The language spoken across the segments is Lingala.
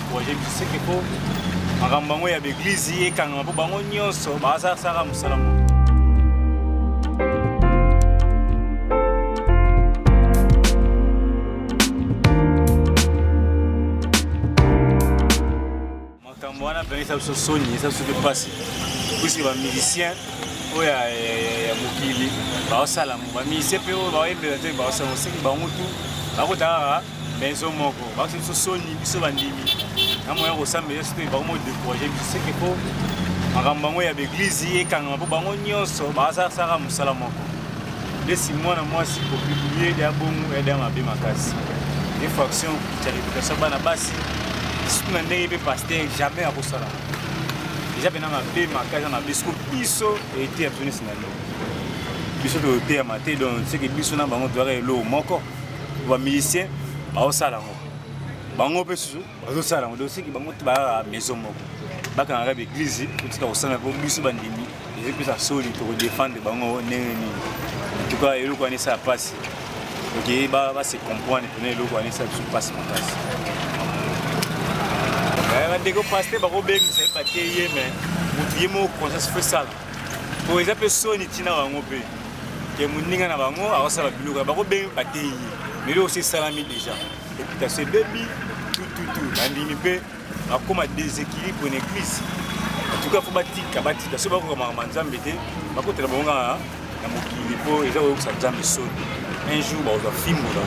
decourage biso seke po makambo bango ya baeglize ekangama mpo bango nyonso bazasalaka mosala moko makambo wana mpenza eza biso soni eza biso mpe mpasi puiske bamusicien oyo ya mokili baosala yango bamusicien mpe oyo baoyembela te baosala moseki bango tu bakotaka maison moko bakisi biso soni biso bandimi na moya kosambela soki bango mo décourage biso seke po makambo yango ya baeglize ekangama mpo bango nyonso basalaka mosala moko ndesi mwana mwasi kopibliye ede ya bongo ede ya mabe makasi infraction ya réputation bana basi sutu na ndenge mpe paster jamais akosala eza mpena mabe makasi na mabe soko biso eteya biso nesi na ndenge biso toyoteyama te donc seke biso na bango toyaka eloo moko ba musicien baosala yango bango mpe susu bazosala yango dosiki bango te baa maison moko bakangaka baeglize kotika kosala mpo biso bandimi ezali mpesa soli tokodefendre bango ndenge nini antuka eloko wana esala mpasi oke base comprendre mpena eloko wana esala biso mpasi makasi eh, bandeko paster bakobengisa ye bateyi ye mai motu ye moko conscience fo esala Bon, eza pe soni tina bango pe. Ke muninga na bango akosala biloko bako be bateyi. Mais yo aussi salami déjà. Et puis ta se baby tout tout tout. Bandimi pe akoma déséquilibre une église. En tout cas faut batika batika. Soki bako kama manzambe te, bako tela bonga na mokili mpo eza koyokisa nzambe soni un jour bakozwa fimbo na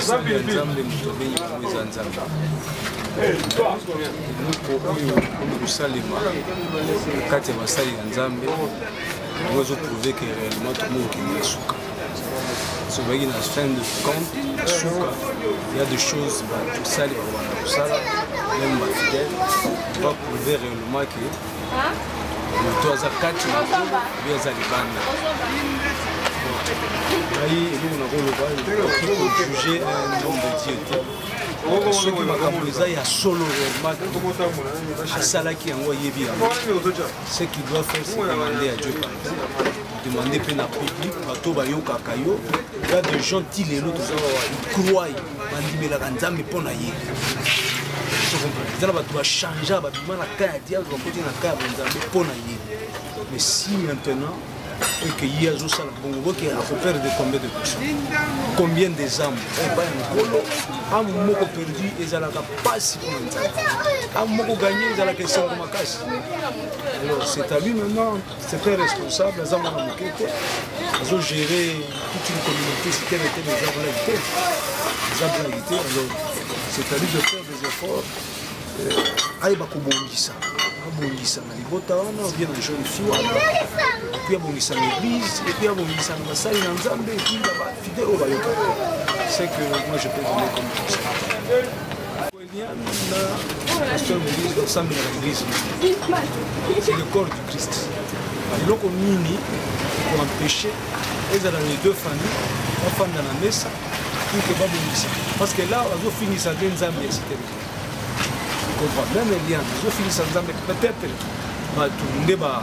nzambe moto abengi yango eza nzambe eloko oyo oyo kosalema kati ya basali ya nzambe yango ezoprouve ke réellement tokomi kokende ya suka sobaki na fin de compte ya suka ya de choses batosali bakobanda kosala meme bafidèle va prouve réellement ke moto aza kati na kolo oyo aza libanda ngai eloko nakoloba juge un homme de dieu te soki makambo eza ya solo reellement asalaki yango ayebi yango ce qui doit faire se demander à dieu demande mpe na public bato bayokaka yo ya de gens ti lelo toza croye bandimelaka nzambe mpo na ye eza na bato bachangea babima na ka ya diable bakoti na ka ya banzambe mpo na ye mais si maintenant et que ye azosala bongo boke akopere de combien de personnes combien des âmes epai ya nkolo ame moko perdu ezalaka mpasi mpo na nzambe ame moko gagne ezalaka esengo makasi alors c'est à lui maintenant C'est très responsable, aza mwana moke te azo gérer toute une communauté sitene te mais eza blague te eza blague te alors c'est à lui de faire des efforts euh, ayeba kobongisa abongisa na libota wana obie na jeune fille wana epuis abongisa na église epuis abongisa na basali na nzambe epuis na bafidele oyo bayokaka c'est que moi je peux donner comme conseil le corps du christ eloko nini koempeshe ezala les deux famille bafanda na mesa ike babongisa parce que là bazofingisa nde nzambe ya site comprend même eliane bazofingisa nzambe peut-être bato nde ba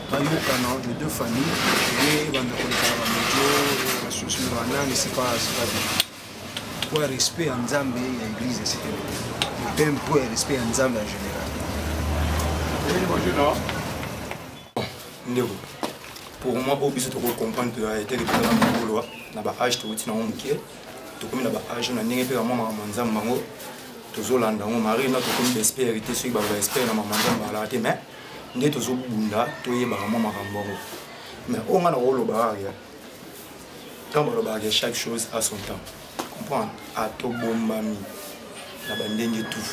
bayokana les deux familles ye banda kolekana bamedio basusu na banani sepa sepa bien mpo ya respect ya nzambe ya église ya site mpe mpo ya respect ya nzambe en général ndeko pour moi oyo biso tokoki comprendre toya etele mpenza na mokoloa na baage towuti nango moke tokomi na baage na ndenge mpe bamwa makambo nzambe yango tozolanda yango marie na tokomi baespere te soki baloba espere na makambo nzambe alaka te mais nde tozobunda toyebaka mwa makambo yango mais oyo nga nakolobaka ya ntango balobaka ya chaque chose à son temps comprendre atobombami na bandenge tout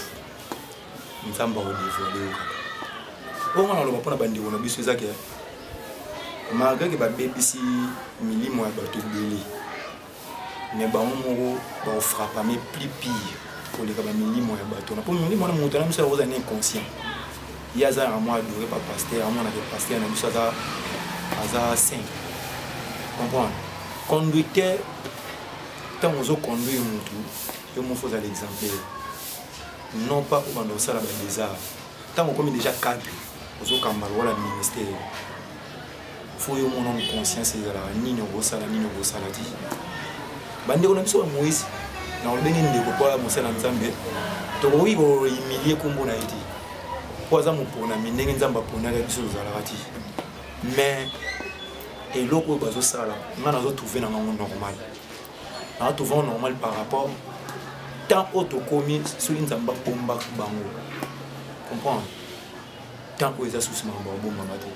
nzambe akodevoile yo kaka oyo nga naloba mpo na bandeko na biso eza ke malgre ke babebisi milimo ya bato ebele mais bango moko baofrapame plus pire koleka bamilimo ya bato wana mpo milimo wana moto na biso yakozala na inconscient ye aza na mwa adore pa paster amonaka paster na biso aza aza saint comprendre conducteur ntango ozoconduire motu yo moko ozala exemplaire non pas obanda kosala badesart ntango okomi déjà cadre ozokamba lokola ministère fo yo mona na conscience ezalaka nini okosala nini okosala te bandeko na biso ya moise na olobenge ndeko mpo ya mosala nzambe tokoki kohumilie nkombo na ye te mpo aza moponami ndenge nzambe aponaka biso tozalaka te mais eloko oyo bazosala ngai nazotrouve na ngango normal nazotrouve yango normal par rapport temps oyo tokomi soki nzambe abombaka bango comprendre temps oyo eza susu makambo abongama te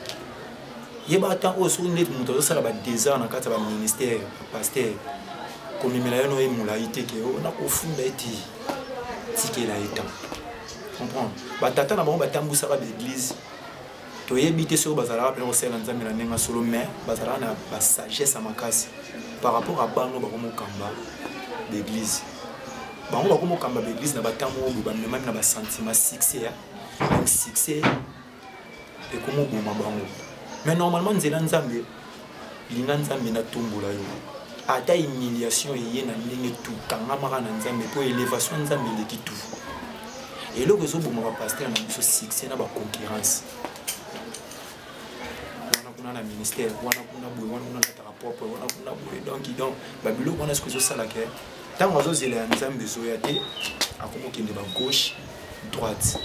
yeba temps oyo soki ndeti moto azosala badesert na kati ya baministère pasteur komemela yo noye molai te ke oh, nakofunda ete tikela ye temps comprendre batata na bango batambwisaka baeglise toyebi te soki bazalaka mpena kosalela nzambe na ndenge ya solo mais bazalaka na basagesse ya makasi par rapport a bango bakomokamba baeglise bango bakomokamba baeglise na batango oyo bamemami na basentiment succès donc succès ekomoboma bango mais normalement nzela nzambe linga nzambe natombola yo ata humiliation eye na ndenge tu kangamaka na nzambe mpo elevation nzambe eleki tu eloko ezoboma bapaster na biso succès na baconcurrence wana kuna na ministère wana kuna boye wana kuna nataka propre wana kuna boye donc donc babiloko wana soki ezosalaka ntango azozela ya nzambe ezoya te akomokende bagauche droite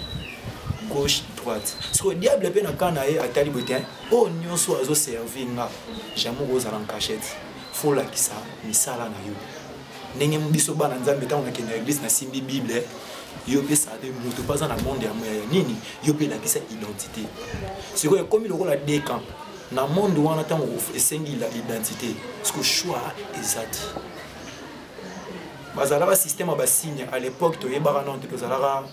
gauche droite sikoyo diable mpe na kaa na ye atali boye te oyo oh, nyonso azoservi nga jamai okozala nkachete folakisa misala na yo ndenge biso bana nzambe ntango nakenda eglise nasimbi bible yo mpe sade moto mpe aza na monde ya moya ya nini yo mpe elakisa identité sikoyo ekomi lokola dekan na monde wana ntango esengi identité siko choix eza te bazalaka système ya basigne à l'époque toyebaka nano te tozalaka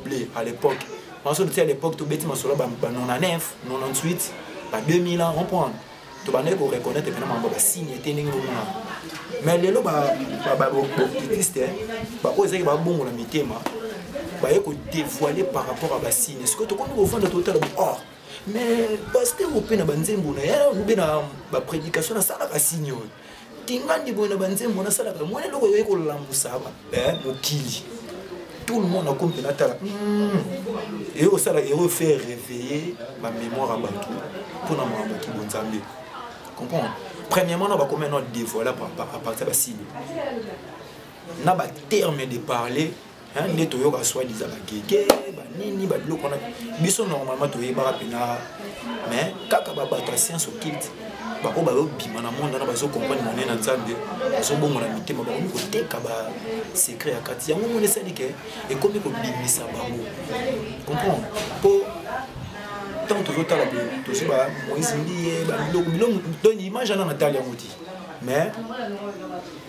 blé à l'époque maso totia à l'époque tobeti masolo ba 99 98 ba 2000 ans comprendre tobandaki koreconnaitre mpena mambo basigne te ndenge bomona mais lelo babokitiste baoyo ezalaki babongola mitema baye kodévoile par rapport ya basigne sikoyo tokomi kofanda totala or mais paster ope na banzembo na ye obe na baprédication nasalaka signe oyo tingandi boye na banzembo nasalaka mwana eloko yoye kolamusa eh, mokili tout le monde akomi natala hmm. eye osala eye ofaire réveiller bamémoire ya bato mpo na makambo kilo nzambe comprendre premièrement na bakomi no dévoile à partir ya basible na baterme de parler nde toyoka swadiza bagege banini babiloko wana biso normalement toyebaka mpena mais kaka babato ya science occulte baoyo bazobima na monde wana bazocomprendre monene na nzambe bazobongola mitema bakomi koteka basecret ya kati yango moni esali ke ekomi kobimisa bango comprendre mpo ntango tozotala boye tozwi ba moise mbiye babiloko biloko to image ana natali yango te mais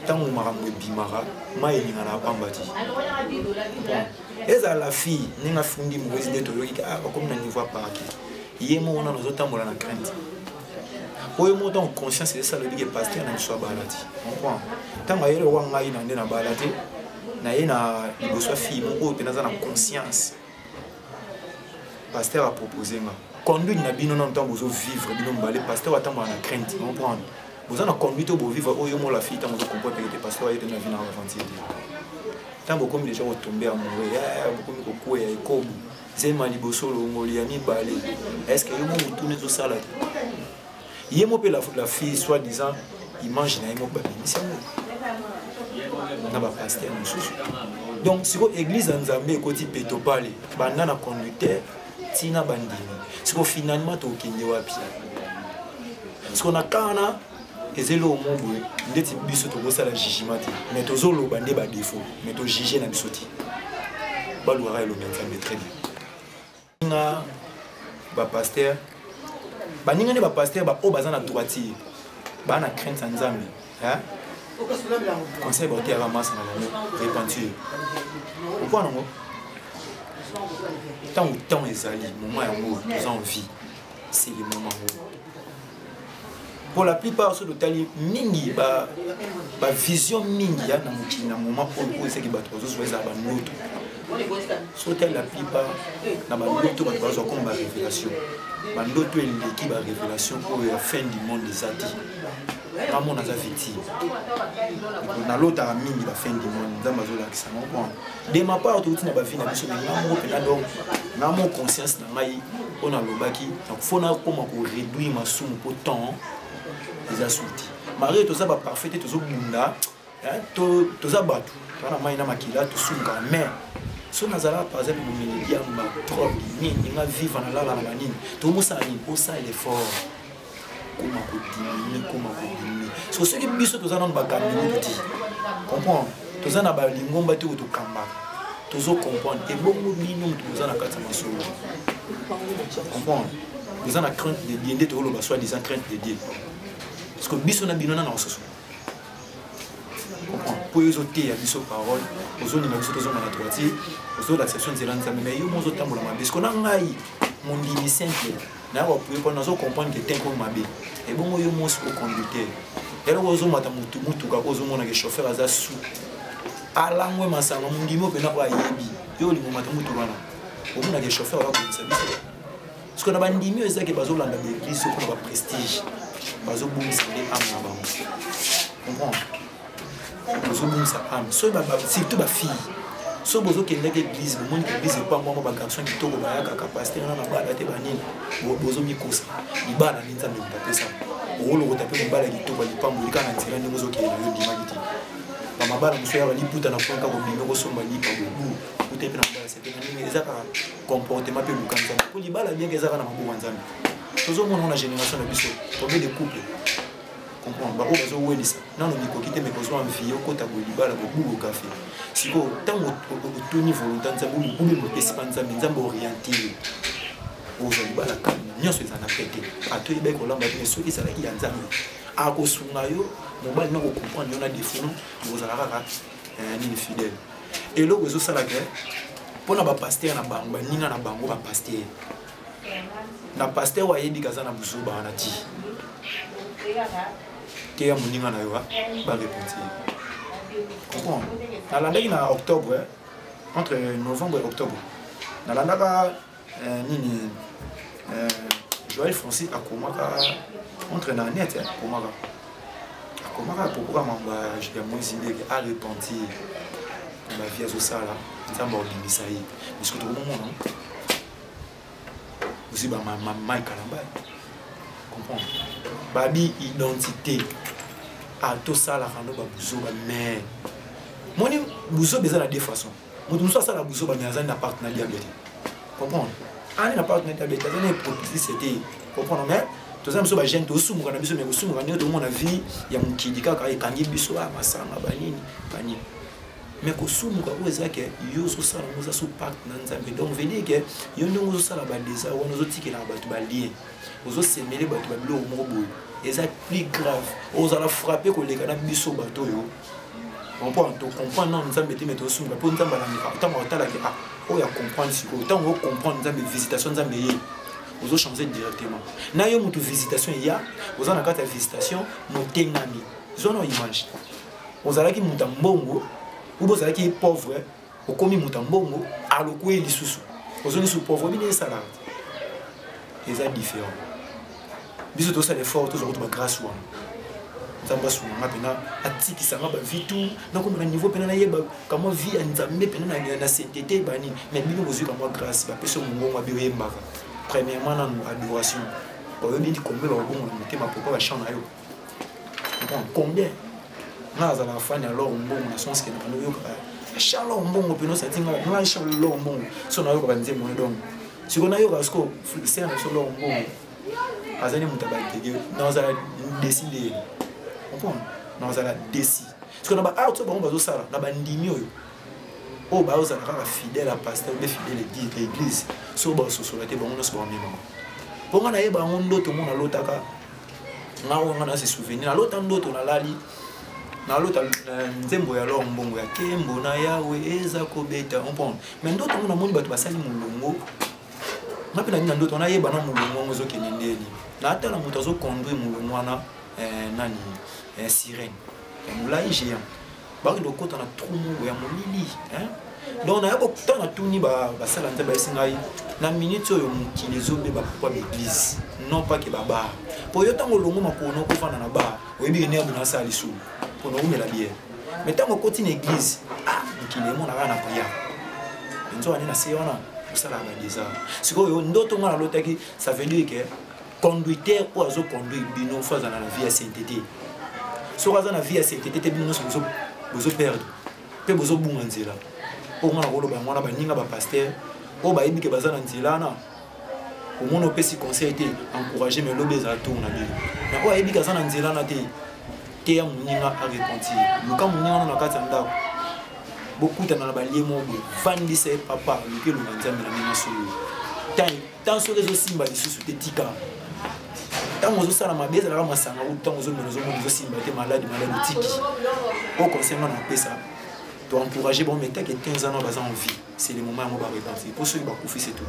ntango makambo ebimaka mai elingana ya pamba ti ezala la fille ndenge afundi mokozi nde toyoki ah, bakomi na niveau ya parke ye moko nano azotambola na crainte po ye moko ntango conscience esala oyebi ke paster na biso abala ti comprend ntango ayeli owa ngai na nde nabala te naye na liboso ya fille moko oyo mpenza aza na conscience pasteur apropose nga conduite na bino nano ntango bozovivre bino mibale pasteur atambola na crainte comprendre boza na conduite oyo bovivre oyo mola fille ntango ozokompoa peke te pasteur ayete na vie na aventure te ntango bokomi deja kotombe amoureux eh, bokomi kokweya ekobo zema liboso longoli ya mibale estce yo mo motuna ezosala te ye mo mpe la, la fille soit disant image na ye moko babimisi yango na bapaster mosusu donc sikoyo église ya nzambe ekoti petopale banda na conducteur ntina bandimi sikoyo finalement tokokende wapi sikoyo na kana eza eloko mo boye ndeti biso tokosala jugement te mais tozoloba nde badefaut mais tojuge na biso te balukaka elongi ya nzambe très bien nga ba pasteur baninga nde ba pasteur ba oyo baza na droitier baa na crainte ya nzambe conseil baoteyaka masa na bango repentir okwa nango ntango ntango ezali moma yango toza en vie c'est le moment yango pour la plupart soki totali mingi bavision mingi ya na mokili na moment oyo oyo esaki bato bazosuba ezala bandoto soki tali la plupart na bandoto bato bazwa koma barévélation bandoto eleki barévélation oyo ya fin du monde eza te ngamona aza victime nalotaka mingi bafin du monde nzambe azolakisa moko de ma part touti na bavi na biso me nga moko mpenza donc nga mo conscience na ngai oyo nalobaki fo nakoma koréduire masumu mpo temps eza suti marie toza baparfait te tozobunda toza bato toza na mai na makila tosungaka mais so nazalaka par exemple momeli ya maprobe nini nga viva nalala na banini tobosala nini osala effort koma kodiminue koma kodiminue siko soki biso toza nano bakambi moto te comprendre toza na balingomba te oyo tokambaka tozo comprendre ebongo bino moto boza na kati ya masolo comprendre boza na crainte de dieu nde tokoloba soi disant crainte de dieu parce que biso na bino nana mosusu mpo yo ezoteya biso parole ozolinga biso tozonga na droitier ozolakisa biso nzela nzambe mai yo mo ozotambola mabe siko na ngai mondimi simple naye bapui mpo nazo comprendre ke tenko mabe ebongo yo mwasi koconducteur eloko ozomata motu motuka ko ozomona ke chauffeur aza su alangwe masanga mondimi opena oyo ayebi yo olingo mata motuka wana omona ke chauffeur aza kobisa biso parce que na bandimi oyo ezaki bazolanda baeglise mpona baprestige bazobungisa nde ame na bango comprendre ozobungisa ame soki surtout bafille soki bozokendaki église bomoni église ekwangwama bagarçon kitoko bayakaka paster wana mabala te banini bozomikosa libala nini nzambe motapesa okolokota mpe mobala kitoko ya lipambo olika na nzela ndenge ozokende yo ndimaki te bamabala mosusu yaka liputa na mponka kobimi okosomba lipa bobu kuta mpe na mabala sete na ndenge ezaka comportement mpe luka nzambe mpo libala bienke ezaka na maboko ya nzambe tozomona ngo na génération na biso combien de couple comprendre baoyo bazowelisa nano mikoki te mekozwa mvie okota boye libala bobugo kafe sikoyo ntango otuni volonta nzambe mobulu mopesi mpa nzambe nzambe oriente ye ozwa libala kani nyonso eza na pete ato oyebaki kolamba te soki ezalaki ya nzambe akosunga yo mobali na kocomprendre yo na defino okozala kaka eh, nini fidèle eloko ezosala ke mpo na bapaster na bango baninga na bango bapaster na paster oyo ayebi kaza na buzoba wana ti teya moninga na yo bareponse comprendre nalandaki na octobre eh? entre novembre et octobre nalandaka euh, nini euh, joel francis akomaka entre na net eh, akomaka akomaka apokoka mamba ya moise ndeke arepentir na bavie azosala nzambe akobimisa ye bisoki tokomomona aussi ba mai kalamba comprendre babi identité ah, tosalaka no babuzoba mais moni buzoba eza na deux façon moto mosusu asala buzoba mais azali na partenaire diable te comprendre ani na partenaire diable te azali na hypocrisie te comprendre mais toza biso bagene tosumuka na biso mais kosumuka ndenge tomona vie ya mokili kaka ekangi biso a ah, masanga banini banini me kosumuka oyo eza ke yo ozosala ngo oza so pacte na nzambe donc veut dire ke yo ndenge ozosala badesa wana ozotikelaka bato balien ozosemele bato ba biloko moko boye eza plus grave ozala frappe koleka na biso bato oyo comprendre tocomprendre nano nzambe te me tosunga mpo nzambe alandeka ntango atalaki a ah, oyo acomprendre sikoyo ntango ocomprendre nzambe visitation nzambe ye ozochange directement na yo motu visitation eya oza na kati ya visitation motengami zwana image ozalaki moto ya mbongo oyo ozalaki ye pauvre okomi moto ya mbongo alokwe ye lisusu ozongi su pauvre bino esalaka eza différent biso tosala effort tozwa kutu bagrâce wana nzambe asunga nga mpena atikisa nga bavie tout nakomaka niveau mpena nayeba kamwa vie ya nzambe mpena na saintete banini mais bino bozwi kamwa grâce bapesi mongongo abi oyembaka premièrement nanu adoration oyebi ndi kombe bakobongola motema pourkoi bachant na yo combien nga azala afani ya lor mbongo na sens ke nakana oyokaka cha lor mbongo mpena osati nga nga cha lor mbongo so nayokaka nzembo ne donc siko nayokaka siko ser na biso lor mbongo azali moto ya batege nazala desi leyeli comprendre nazala desi siko na baart oyo bango bazosala na bandimi oyo oyo bazala kaka fidèle ya pasteur nde fidèle ya église so basosola te bango nyonso baomemama mpo nga nayeba yango ndoto ngo nalotaka nga oyo nga nase souvenir nalota ndoto nalali nalota eh, nzembo ya lor mbongo ya kembo na yawe eza kobeta ompone me ndoto ngo namoni bato basali molongo nga mpe nangi na ndoto nayeba na molongo yango ezokende ndeni natala moto azoconduire molongo wana eh, nani eh, sirene ya molai géant bakende kokota na trou moko ya molili donc naya ntango natuni basala nzambe ayesi ngai na minute oyo mokili ezobeba pourkoi baeglise non pas ke babar mpo yo ntango olongo makolo nokofanda na bar oyebi enerbe nasala lisumu mpo naumela biere mai ntango okoti na eglise ah mokili emonaka na priya nzoka nde na se wana osalaka badesar sikoyo ndoto ngai nalotaki ça veut dire ke conduiteur oyo azo conduire bino fo azala na vie ya sente te soki aza na vie ya sente te te bino nyonso bozoperdre mpe bozobunga nzela oyo nga nakoloba yango wana baninga bapaster oyo bayebi ke baza na nzela wana omoni opesi conseil te encourage me lobi ezala tour na bino na oyo ayebi ke aza na nzela wana te teya moninga arepentir luka moninga wana na kati ya ndako bokutana na balie moko boye vandisa ye papa luki elonga nzambe na ndenge solo ntango soki ezosimba lisusu te tika ntango ozosala mabe ezalaka masanga ou ntango ozomela ozomona ezosimba te maladi maladi otiki o conseil nga na opesa to encourage bango mais teke 15 ans baza en vie c'est le moment yango barepentir mpo soki bakufi c'est tout